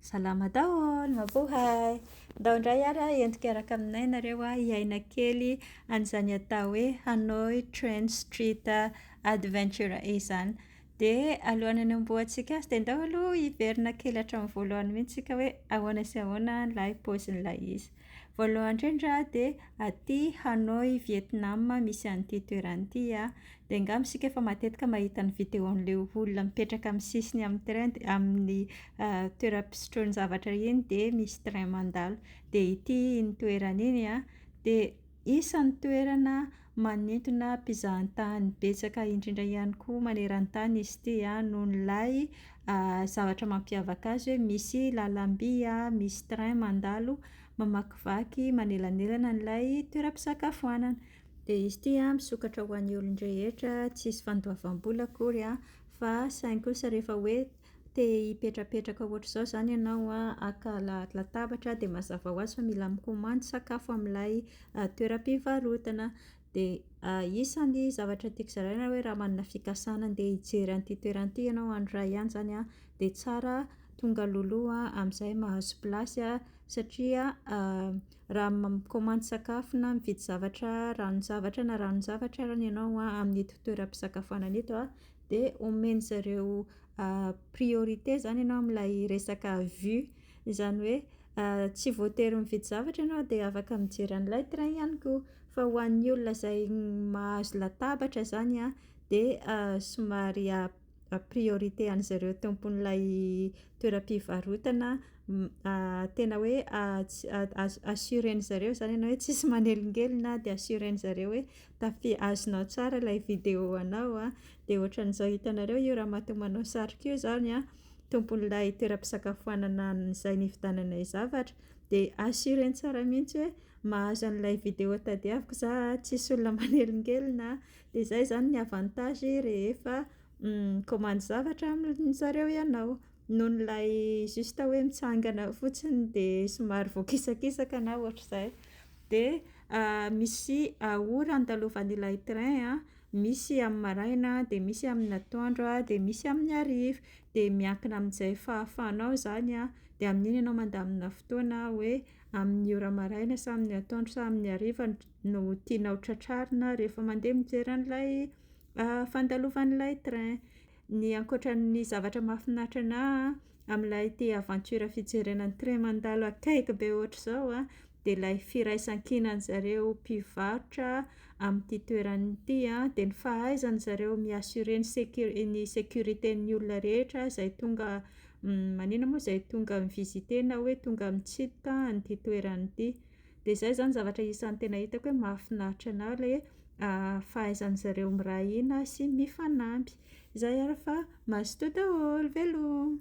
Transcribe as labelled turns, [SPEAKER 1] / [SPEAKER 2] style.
[SPEAKER 1] Salama daholo, mabohay! Ndao indray ary a, entiko hiaraka aminay nareo a, hiaina kely an'izany atao hoe Hanoi Train Street Adventure izany. Dia alohan'ny hanombohantsika azy dia ndao aloha hiverina kely hatramin'ny voalohany mihitsy tsika hoe ahoana sy ahoana ilay paozin'ilay izy. Voalohany indrindra aho dia aty Hanoi Vietnam misy an'ity toerana ity aho, dia angamba isika efa matetika mahita ny vidéo an'ilay olona mipetraka amin'ny sisiny amin'ny train dia amin'ny toeram-pisotroany zavatra iny dia misy train mandalo. Dia ity iny toerana iny an, dia isan'ny toerana Manintona mpizahan-tany betsaka indrindra ihany koa maneran-tany izy ity noho ilay zavatra mampiavaka azy hoe misy lalam-by, misy train mandalo mamakivaky manelanelana an'ilay toeram-pisakafoanana. Dia izy ity misokatra ho an'ny olon-drehetra, tsisy fandoavam-bola akory fa saingy kosa rehefa hoe Te hipetrapetraka ohatr'izao izany ianao an, haka latabatra dia mazava ho azy fa mila mikomandy sakafo amin'ilay toeram-pivarotana. Dia isan'ny zavatra tiako zaraina hoe raha manana fikasana handeha hijery an'ity toerana ity ianao andro iray ihany izany an, dia tsara tonga alohaloha amin'izay mahazo plasy an, satria raha mikomandy sakafo na mividy zavatra, ranon-javatra na ranon-javatra ary ianao amin'ito toeram-pisakafoanana ito an, dia omen-dry zareo priorité izany ianao amin'ilay resaka vue, izany hoe tsy voatery mividy zavatra ianao dia afaka mijery an'ilay train ihany koa, fa ho an'ny olona izay mahazo latabatra izany a de somary a- priorité an'izay ireo tompon'ilay toeram-pivarotana tena hoe a- assurer-ndry zareo izany ianao hoe tsisy manelingelina de assurer-ndry zareo hoe. Tafia azonao tsara ilay vidéo anao a, dia ohatran'izao hitanareo io ramatoa manao satroka io zany a, tompon'ilay toeram-pisakafoanana izay nividiananay zavatra, de assurer-ny tsara mihitsy hoe mahazo an'ilay vidéo tadiaviko za a, tsisy olona manelingelina a, de zay zany ny avantage rehefa mikaomandy zavatra amin-jareo ianao. Noho ilay juste hoe mitsangana fotsiny dia somary voakisakisaka na ohatr'izay. Dia misy ora andalovan'ilay train a, misy amin'ny maraina, dia misy amin'ny atoandro, dia misy amin'ny hariva. Dia miankina amin'izay fahafahanao izany a, dia amin'iny ianao mandamina fotoana hoe amin'ny ora maraina sa amin'ny atoandro sa amin'ny hariva no tianao tratrarina rehefa mandeha mijery an'ilay fandalovan'ilay train. Ny ankoatra ny zavatra mahafinaritra anahy amin'ilay ity aventure fijerena ny train mandalo akaiky be ohatr'izao a, dia ilay firaisan-kinan'ny zareo mpivarotra amin'ity toerana ity a, dia ny fahaizan'ny zareo mi-assurer ny sécu- ny sécurité-n'ny olona rehetra izay tonga maninona moa izay tonga mi-visiter na hoe tonga mitsidika an'ity toerana ity. Dia izay izany zavatra isan'ny tena hitako hoe mahafinaritra anà le fahaizan'ny zareo miray hina sy mifanampy. Izay ary fa mazotoa daholo, veloma.